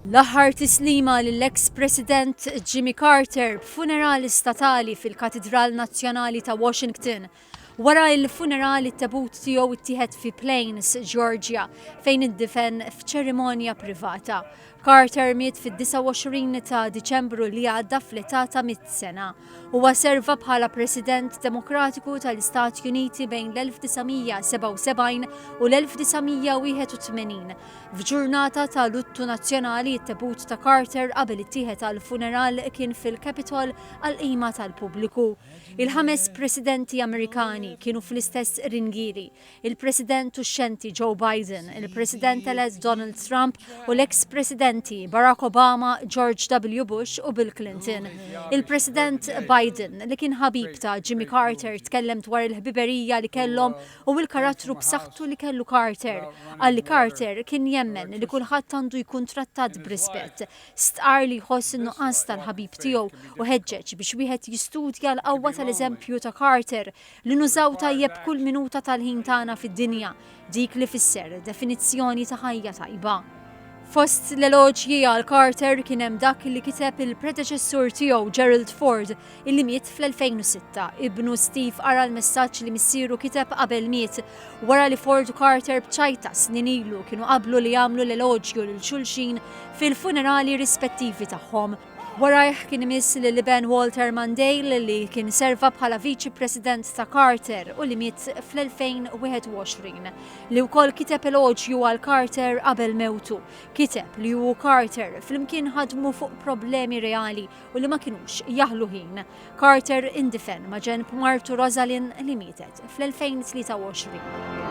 L-aħħar tislima lill-eks President Jimmy Carter b'funerali statali fil-Katidral Nazzjonali ta' Washington. Wara l-funeral it-tebut tiegħu ttieħed fi Plains, Georgia, fejn indifen f'ċerimonja privata. Carter miet fid-29 ta' Diċembru li għadda fl-età ta' mit sena. Huwa serva bħala President Demokratiku tal-Istati Uniti bejn l-1977 u l-1981 F'ġurnata ta' luttu nazzjonali, it-tebut ta' Carter qabel ittieħed għall-funeral kien fil-Capitol għall-qima tal-pubbliku. Il-ħames Presidenti Amerikani kienu fl-istess ringieri, il-President uxxenti Joe Biden, il-President-elett Donald Trump u l-eks Presidenti Barack Obama, George W. Bush u Bill Clinton. Il-President Biden, li kien ħabib ta' Jimmy Carter tkellem dwar il-ħbiberija li kellhom u l-karattru b'saħħtu li kellu Carter. Qal li Carter kien jemmen li kulħadd għandu jkun trattat b'rispett. Stqarr li jħoss in-nuqqas tal-ħabib tiegħu u ħeġġeġ biex wieħed jistudja l-qawwa tal-eżempju ta' Carter li nużaw tajjeb kull minuta tal-ħin tagħna fid-dinja, dik li fisser definizzjoni ta' ħajja tajba. Fost l-eloġji għal Carter kien hemm dak li kiteb il-predeċessur tiegħu Gerald Ford illi miet fl-2006, ibnu Steve qara l-messaġġ li missieru kiteb qabel miet, wara li Ford u Carter b'ċajta snin ilu kienu qablu li jagħmlu l-eloġju lil xulxin fil-funerali rispettivi tagħhom. Warajh kien imiss lill-iben Walter Mondale, li kien serva bħala Viċi President ta' Carter u li miet fl-2021, li wkoll kiteb eloġju għal Carter qabel mewtu. Kiteb li hu u Carter flimkien ħadmu fuq problemi reali u li ma kinux jaħlu ħin. Carter indifen maġenb martu Rosalind li mietet fl-2023.